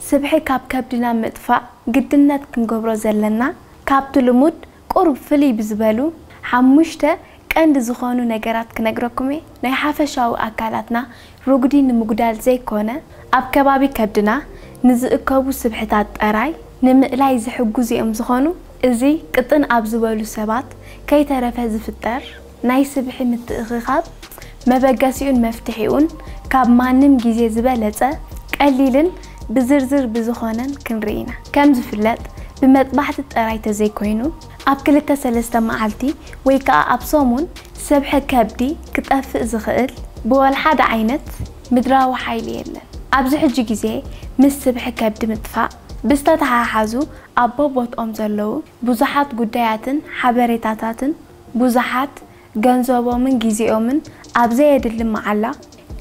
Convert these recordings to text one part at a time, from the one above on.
ስብሒ ካብ ከብድና ምጥፋእ ግድነት ክንገብሮ ዘለና ካብቲ ልሙድ ቁሩብ ፍልይ ብዝበሉ ሓሙሽተ ቀንዲ ዝኾኑ ነገራት ክነግረኩም እየ። ናይ ሓፈሻዊ ኣካላትና ርጉዲ ንምጉዳል ዘይኮነ ኣብ ከባቢ ከብድና ንዝእከቡ ስብሕታት ጠራይ ንምእላይ ዝሕግዙ እዮም ዝኾኑ። እዚ ቅጥን ኣብ ዝበሉ ሰባት ከይተረፈ ዝፍጠር። ናይ ስብሒ ምትእኽኻብ መበገሲኡን መፍትሒኡን ካብ ማንም ግዜ ዝበለጸ ቀሊልን ብዝርዝር ብዝኾነን ክንርኢ ኢና። ከም ዝፍለጥ ብመጥባሕቲ ጥራይ ተዘይኮይኑ ኣብ ክልተ ሰለስተ መዓልቲ ወይ ከኣ ኣብ ሰሙን ሰብሒ ከብዲ ክጠፍእ ዝኽእል ብወልሓደ ዓይነት ምድራዊ ሓይሊ የለን። ኣብዚ ሕጂ ግዜ ምስ ስብሒ ከብዲ ምጥፋእ ብዝተተሓሓዙ ኣብ ቦቦትኦም ዘለዉ ብዙሓት ጉዳያትን ሓበሬታታትን ብዙሓት ገንዘቦምን ግዜኦምን ኣብ ዘየድሊ መዓላ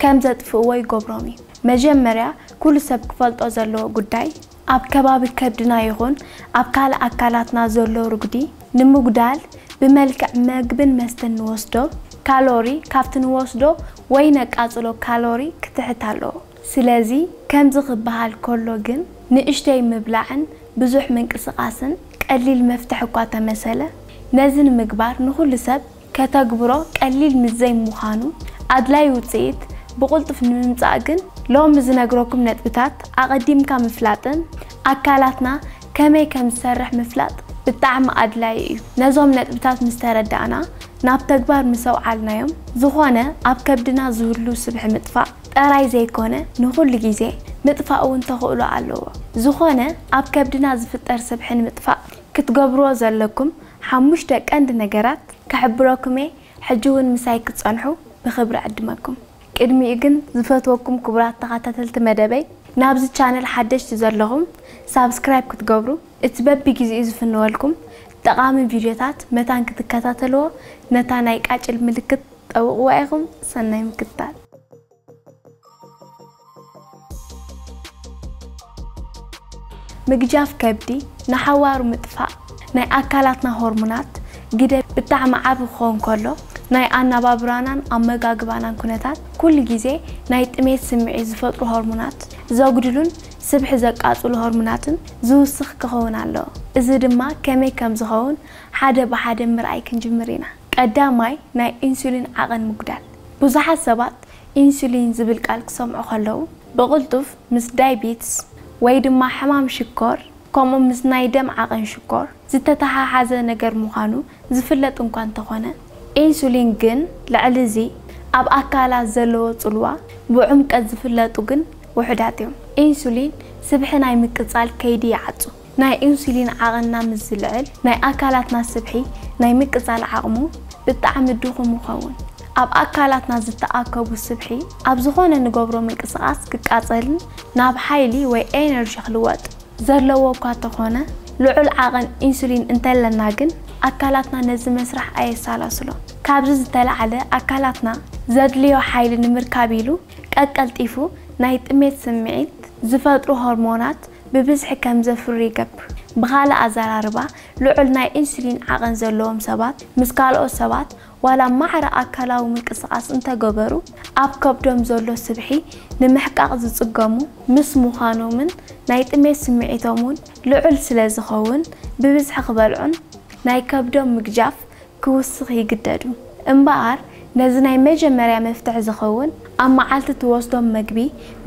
ከም ዘጥፍእዎ ይገብሮም እዩ። መጀመርያ ኩሉ ሰብ ክፈልጦ ዘለዎ ጉዳይ ኣብ ከባቢ ከብድና ይኹን ኣብ ካልእ ኣካላትና ዘሎ ርጉዲ ንምጉዳል ብመልክዕ መግብን መስተን ንወስዶ ካሎሪ ካብቲ ንወስዶ ወይ ነቃጽሎ ካሎሪ ክትሕት ኣለዎ። ስለዚ ከምዚ ክበሃል ከሎ ግን ንእሽተይ ምብላዕን ብዙሕ ምንቅስቓስን ቀሊል መፍትሒ እኳ ተመሰለ፣ ነዚ ንምግባር ንኹሉ ሰብ ከተግብሮ ቀሊል ምስ ዘይምዃኑ፣ ኣድላዪ ውጽኢት ብቕልጡፍ ንምምጻእ ግን፣ ሎሚ ዝነግረኩም ነጥብታት ኣቐዲምካ ምፍላጥን ኣካላትና ከመይ ከም ዝሰርሕ ምፍላጥ ብጣዕሚ ኣድላዪ እዩ። ነዞም ነጥብታት ምስ ተረዳእና ናብ ተግባር ምስ ኣውዓልናዮም፣ ዝኾነ ኣብ ከብድና ዝህሉ ስብሒ ምጥፋእ፣ ጠራይ ዘይኮነ ንኹሉ ግዜ ምጥፋእ እውን ተኽእሎ ኣለዎ። ዝኾነ ኣብ ከብድና ዝፍጠር ስብሒ ንምጥፋእ ክትገብርዎ ዘለኩም ሓሙሽተ ቀንዲ ነገራት ክሕብረኩም እየ ሕጂ እውን ምሳይ ክትጸንሑ ብኽብሪ እዕድመኩም። ቅድሚኡ ግን ዝፈትወኩም ክቡራት ተኻታተልቲ መደበይ ናብዚ ቻነል ሓደሽቲ ዘለኹም ሳብስክራይብ ክትገብሩ እቲ በቢ ግዜኡ ዝፍንወልኩም ጠቓሚ ቪድዮታት መታን ክትከታተልዎ ነታ ናይ ቃጭል ምልክት ጠውቕዋ ኢኹም። ሰናይ ምክትታል። ምግጃፍ ከብዲ፣ ንሓዋሩ ምጥፋእ ናይ ኣካላትና ሆርሞናት ግደ ብጣዕሚ ዓቢ ክኸውን ከሎ፣ ናይ ኣነባብራናን ኣመጋግባናን ኩነታት ኩሉ ግዜ ናይ ጥሜት ስምዒት ዝፈጥሩ ሆርሞናት ዘጉድሉን ስብሒ ዘቃጽሉ ሆርሞናትን ዝውስኽ ክኸውን ኣለዎ። እዚ ድማ ከመይ ከም ዝኸውን ሓደ ብሓደ ምርኣይ ክንጅምር ኢና። ቀዳማይ ናይ ኢንሱሊን ዓቐን ምጉዳል። ብዙሓት ሰባት ኢንሱሊን ዝብል ቃል ክሰምዑ ከለዉ፣ ብቕልጡፍ ምስ ዳይቢትስ ወይ ድማ ሕማም ሽኮር ከምኡ ምስ ናይ ደም ዓቐን ሽኮር ዝተተሓሓዘ ነገር ምዃኑ ዝፍለጥ እንኳ እንተኾነ፣ ኢንሱሊን ግን ልዕሊ እዚ ኣብ ኣካላት ዘለዎ ጽልዋ ብዑምቀት ዝፍለጡ ግን ውሑዳት እዮም። ኢንሱሊን ስብሒ ናይ ምቅጻል ከይዲ ይዓጹ። ናይ ኢንሱሊን ዓቕንና ምስ ዝልዕል ናይ ኣካላትና ስብሒ ናይ ምቅጻል ዓቕሙ ብጣዕሚ ድኹም ይኸውን። ኣብ ኣካላትና ዝተኣከቡ ስብሒ ኣብ ዝኾነ ንገብሮ ምንቅስቓስ ክቃጸልን ናብ ሓይሊ ወይ ኤነርጂ ክልወጥ። ዘለዎ እኳ ተኾነ ልዑል ዓቕን ኢንሱሊን እንተለና ግን ኣካላትና ነዚ መስርሕ ኣየሳላስሎን። ካብዚ ዝተላዕለ ኣካላትና ዘድልዮ ሓይሊ ንምርካብ ኢሉ ቀቀልጢፉ ናይ ጥሜት ስምዒት ዝፈጥሩ ሆርሞናት ብብዝሒ ከም ዘፍሪ ይገብር። ብኻልእ ኣዘራርባ፣ ልዑል ናይ ኢንሱሊን ዓቐን ዘለዎም ሰባት ምስ ካልኦት ሰባት ዋላ ማዕረ ኣካላዊ ምንቅስቓስ እንተ ገበሩ፣ ኣብ ከብዶም ዘሎ ስብሒ ንምሕቃቕ ዝጽገሙ ምስ ምዃኖምን ናይ ጥሜት ስምዒቶም እውን ልዑል ስለ ዝኸውን ብብዝሒ ክበልዑን ናይ ከብዶም ምግጃፍ ክውስኽ ይግደዱ። እምበኣር ነዚ ናይ መጀመርያ መፍትሕ ዝኸውን ኣብ መዓልቲ ትወስዶም መግቢ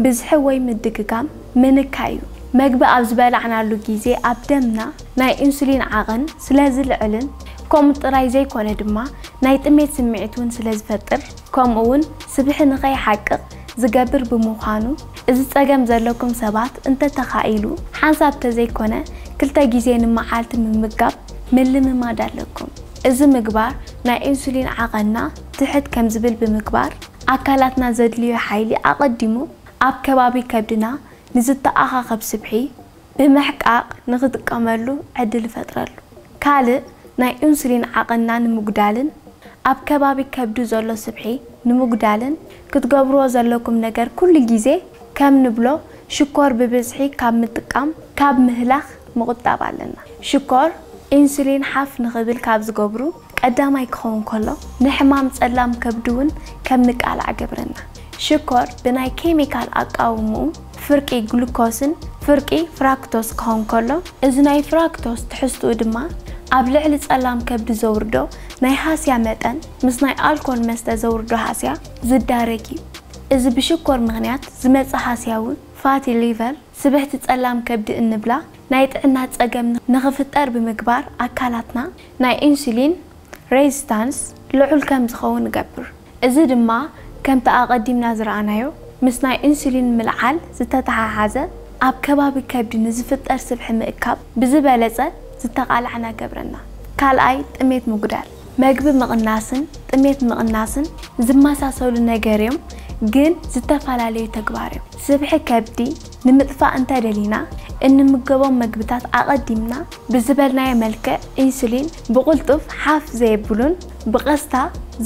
ብዝሒ ወይ ምድግጋም ምንካይ እዩ። መግቢ ኣብ ዝበላዕናሉ ግዜ ኣብ ደምና ናይ ኢንሱሊን ዓቕን ስለ ዝልዕልን ከምኡ ጥራይ ዘይኮነ ድማ ናይ ጥሜት ስምዒት እውን ስለ ዝፈጥር ከምኡ እውን ስብሒ ንኸይሓቅቕ ዝገብር ብምዃኑ እዚ ጸገም ዘለኩም ሰባት እንተተኻኢሉ ሓንሳብ ተዘይኮነ ክልተ ግዜ ንመዓልቲ ምምጋብ ምልምማድ ኣለኩም። እዚ ምግባር ናይ ኢንሱሊን ዓቐንና ትሕት ከም ዝብል ብምግባር፣ ኣካላትና ዘድልዮ ሓይሊ ኣቐዲሙ ኣብ ከባቢ ከብድና ንዝተኣኻኸብ ስብሒ ብምሕቃቕ ንኽጥቀመሉ ዕድል ይፈጥረሉ። ካልእ ናይ ኢንሱሊን ዓቐንና ንምጉዳልን ኣብ ከባቢ ከብዱ ዘሎ ስብሒ ንምጉዳልን ክትገብርዎ ዘለኩም ነገር ኩሉ ግዜ ከም ንብሎ ሽኮር ብብዝሒ ካብ ምጥቃም ካብ ምህላኽ ምቑጣብ ኣለና። ሽኮር፣ ኢንሱሊን ሓፍ ንኽብል ካብ ዝገብሩ ቀዳማይ ክኸውን ከሎ፣ ንሕማም ጸላም ከብዲ'ውን ከም ንቃላዕ ይገብረና። ሽኮር ብናይ ኬሚካል ኣቃውምኡ ፍርቂ ግሉኮስን ፍርቂ ፍራክቶስ ክኸውን ከሎ፣ እዚ ናይ ፍራክቶስ ትሕዝትኡ ድማ ኣብ ልዕሊ ጸላም ከብዲ ዘውርዶ ናይ ሃስያ መጠን ምስ ናይ ኣልኮል መስተ ዘውርዶ ሃስያ ዝዳረግ እዩ። እዚ ብሽኮር ምኽንያት ዝመጽእ ሃስያ'ውን ፋቲ ሊቨር፣ ስብሕቲ ጸላም ከብዲ እንብላ ናይ ጥዕና ጸገም ንኽፍጠር ብምግባር ኣካላትና ናይ ኢንሱሊን ረዚስታንስ ልዑል ከም ዝኸውን እገብር። እዚ ድማ ከምቲ ኣቐዲምና ዝረኣናዮ ምስ ናይ ኢንሱሊን ምልዓል ዝተተሓሓዘ ኣብ ከባቢ ከብዲ ንዝፍጠር ስብሒ ምእካብ ብዝበለጸ ዝተቓላዕና እገብረና። ካልኣይ ጥሜት ምጉዳል። መግቢ ምቕናስን ጥሜት ምቕናስን ዝመሳሰሉ ነገር እዮም ግን ዝተፈላለዩ ተግባር እዮም። ስብሒ ከብዲ ንምጥፋእ እንተደሊና እንምገቦም መግብታት ኣቐዲምና ብዝበልናዮ መልክዕ ኢንሱሊን ብቕልጡፍ ሓፍ ዘየብሉን ብቐስታ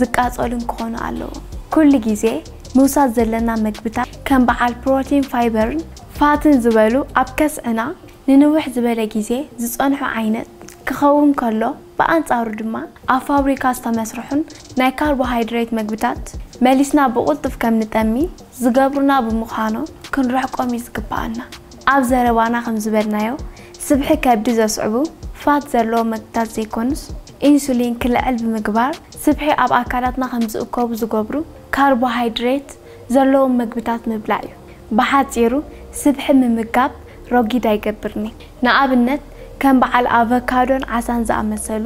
ዝቃፀሉን ክኾኑ ኣለዎም። ኩሉ ግዜ ምውሳድ ዘለና መግብታት ከም በዓል ፕሮቲን ፋይበርን ፋትን ዝበሉ ኣብ ከስዕና ንንውሕ ዝበለ ግዜ ዝፀንሑ ዓይነት ክኸውን ከሎ፣ ብኣንጻሩ ድማ ኣብ ፋብሪካ ዝተመስርሑን ናይ ካርቦሃይድሬት መግብታት መሊስና ብቕልጡፍ ከም ንጠሚ ዝገብሩና ብምዃኖም ክንርሕቆም እዩ ዝግብኣና። ኣብ ዘረባና ከም ዝበልናዮ ስብሒ ከብዲ ዘስዕቡ ፋት ዘለዎም መግብታት ዘይኮኑስ ኢንሱሊን ክልዕል ብምግባር ስብሒ ኣብ ኣካላትና ከም ዝእከቡ ዝገብሩ ካርቦሃይድሬት ዘለዎም መግብታት ምብላዕ እዩ። ብሓጺሩ ስብሒ ምምጋብ ረጒድ ኣይገብርን'ዩ። ንኣብነት ከም በዓል ኣቮካዶን ዓሳን ዝኣመሰሉ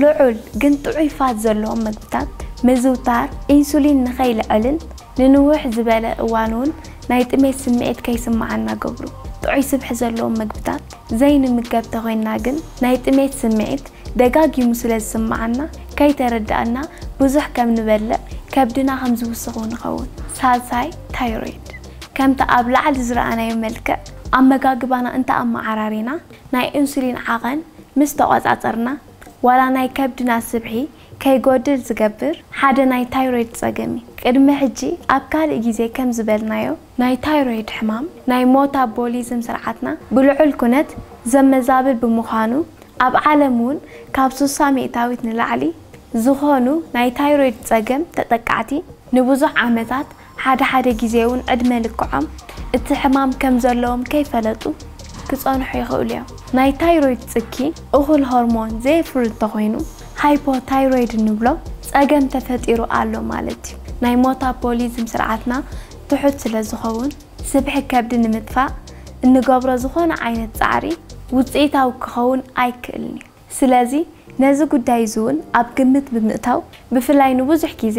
ልዑል ግን ጥዑይ ፋት ዘለዎም መግብታት ምዝውታር ኢንሱሊን ንኸይልዐልን ንንውሕ ዝበለ እዋን'ውን ናይ ጥሜት ስምዒት ከይስምዓና ገብሩ። ጥዑይ ስብሒ ዘለዎም መግብታት ዘይንምገብ ተኾይንና ግን ናይ ጥሜት ስምዒት ደጋጊሙ ስለ ዝስምዓና ከይተረድኣና ብዙሕ ከም ንበልዕ ከብድና ከም ዝውስኽ'ውን ንኸውን። ሳልሳይ፣ ታይሮይድ። ከምቲ ኣብ ላዕሊ ዝረኣናዮ መልክዕ ኣመጋግባና እንተ ኣመዓራሪና፣ ናይ ኢንሱሊን ዓቐን ምስ ተቖጻጸርና፣ ዋላ ናይ ከብድና ስብሒ ከይጎድል ዝገብር ሓደ ናይ ታይሮይድ ጸገም እዩ። ቅድሚ ሕጂ ኣብ ካልእ ግዜ ከም ዝበልናዮ፣ ናይ ታይሮይድ ሕማም ናይ ሞታቦሊዝም ስርዓትና ብልዑል ኩነት ዘመዛብል ብምዃኑ፣ ኣብ ዓለም እውን ካብ ስሳ ሚእታዊት ንላዕሊ ዝኾኑ ናይ ታይሮይድ ጸገም ተጠቃዕቲ ንብዙሕ ዓመታት ሓደ ሓደ ግዜ'ውን ዕድመ ልክዖም እቲ ሕማም ከም ዘለዎም ከይፈለጡ ክጸንሑ ይኽእሉ እዮም። ናይ ታይሮይድ ጽኪ፣ እኹል ሆርሞን ዘየፍሪ እንተኾይኑ፣ ሃይፖታይሮይድ እንብሎ ጸገም ተፈጢሩ ኣሎ ማለት እዩ። ናይ ሞታፖሊዝም ስርዓትና ትሑት ስለ ዝኸውን፣ ስብሒ ከብዲ ንምጥፋእ እንገብሮ ዝኾነ ዓይነት ጻዕሪ ውጽኢታዊ ክኸውን ኣይክእልን እዩ። ስለዚ ነዚ ጉዳይ እዚውን ኣብ ግምት ብምእታው ብፍላይ ንብዙሕ ግዜ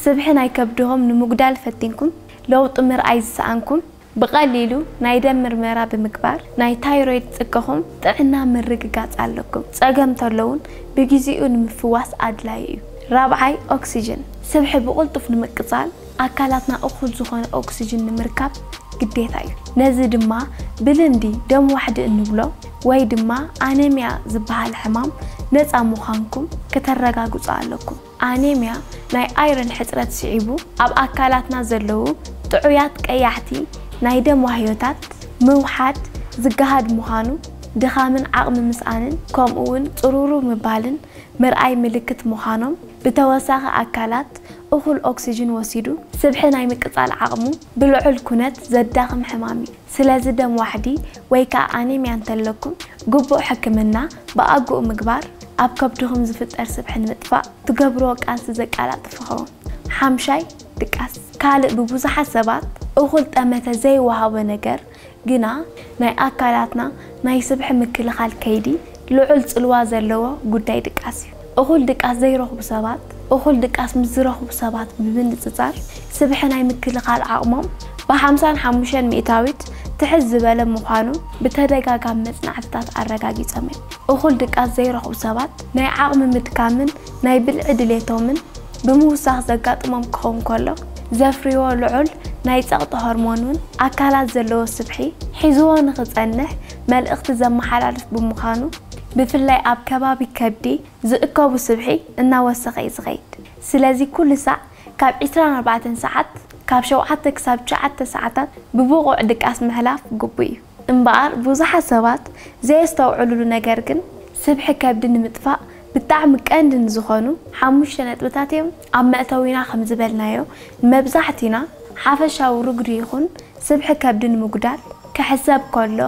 ስብሒ ናይ ከብድሆም ንምጉዳል ፈቲንኩም ለውጢ ምርኣይ ዝሰኣንኩም ብቐሊሉ ናይ ደም ምርመራ ብምግባር ናይ ታይሮይድ ጽቅኹም ጥዕና ምርግጋጽ ኣለኩም። ጸገም ተሎውን ብግዜኡ ንምፍዋስ ኣድላይ እዩ። ራብዓይ ኦክስጅን ስብሒ ብቕልጡፍ ንምቅጻል ኣካላትና እኹል ዝኾነ ኦክስጅን ንምርካብ ግዴታ እዩ። ነዚ ድማ ብልምዲ ደም ዋሕዲ እንብሎ ወይ ድማ ኣነሚያ ዝበሃል ሕማም ነፃ ምዃንኩም ክተረጋግፁ ኣለኩም። ኣነሚያ ናይ ኣይረን ሕፅረት ስዒቡ ኣብ ኣካላትና ዘለዉ ጥዑያት ቀያሕቲ ናይ ደም ዋህዮታት ምውሓድ ዝገሃድ ምዃኑ ድኻምን ዓቕሚ ምስኣንን ከምኡ እውን ፅሩሩ ምባልን ምርኣይ ምልክት ምዃኖም ብተወሳኺ ኣካላት እኹል ኦክስጅን ወሲዱ ስብሒ ናይ ምቅፃል ዓቕሙ ብልዑል ኩነት ዘዳኽም ሕማም እዩ። ስለዚ ደም ዋሕዲ ወይ ከዓ ኣኔምያ እንተለኩም ግቡእ ሕክምና ብኣግኡ ምግባር ኣብ ከብድኹም ዝፍጠር ስብሒ ንምጥፋእ ትገብርዎ ቃልሲ ዘቃላጥፍ ይኸውን። ሓምሻይ ድቃስ። ካልእ ብብዙሓት ሰባት እኹል ጠመተ ዘይወሃቦ ነገር ግና ናይ ኣካላትና ናይ ስብሒ ምክልኻል ከይዲ ልዑል ፅልዋ ዘለዎ ጉዳይ ድቃስ እዩ። እኹል ድቃስ ዘይረኽቡ ሰባት እኹል ድቃስ ምስ ዝረኽቡ ሰባት ብምንፅፃር ስብሒ ናይ ምክልኻል ዓቕሞም ብ ሓምሳን ሓሙሽተን ሚእታዊት ትሕት ዝበለ ምዃኑ ብተደጋጋሚ መፅናዕትታት ኣረጋጊፆም እዮም። እኹል ድቃስ ዘይረኽቡ ሰባት ናይ ዓቕሚ ምድካምን ናይ ብልዒ ድሌቶምን ብምውሳኽ ዘጋጥሞም ክኸውን ከሎ፣ ዘፍርይዎ ልዑል ናይ ጸቕጢ ሆርሞን እውን ኣካላት ዘለዎ ስብሒ ሒዝዎ ንኽጸንሕ መልእኽቲ ዘመሓላልፍ ብምዃኑ፣ ብፍላይ ኣብ ከባቢ ከብዲ ዝእከቡ ስብሒ እናወሰኸ እዩ ዝኸይድ። ስለዚ ኩሉ ሳዕ ካብ ዕስራን ኣርባዕተን ሰዓት፣ ካብ ሸውዓተ ክሳብ ትሽዓተ ሰዓታት ብብቑዕ ድቃስ ምሕላፍ ግቡእ እዩ። እምበኣር ብዙሓት ሰባት ዘየስተውዕሉሉ ነገር ግን ስብሒ ከብዲ ንምጥፋእ ብጣዕሚ ቀንዲ ንዝኾኑ ሓሙሽተ ነጥብታት እዮም። ኣብ መእተዊና ከምዝበልናዮ ንመብዛሕቲና ሓፈሻዊ ርጉዲ ይኹን ስብሒ ከብዲ ንምጉዳል ክሕሰብ ከሎ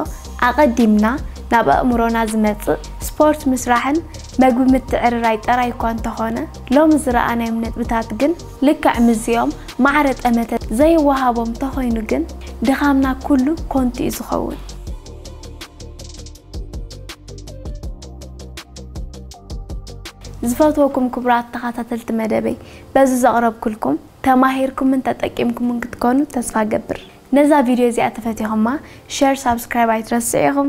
ኣቐዲምና ናብ ኣእምሮና ዝመፅእ ስፖርት ምስራሕን መግቢ ምትዕርራይ ጥራይ እኳ እንተኾነ ሎሚ ዝረኣናዮም ነጥብታት ግን ልክዕ ምስዚኦም ማዕረ ጠመተ ዘይወሃቦም ተኾይኑ ግን ድኻምና ኩሉ ኮንቱ እዩ ዝኸውን። ዝፈትወኩም ክቡራት ተኻታተልቲ መደበይ በዚ ዘቕረብኩልኩም ተማሂርኩምን ተጠቂምኩምን ክትኮኑ ተስፋ እገብር። ነዛ ቪድዮ እዚኣ ተፈቲኹማ ሸር ሳብስክራይብ ኣይትረስዑ ኢኹም።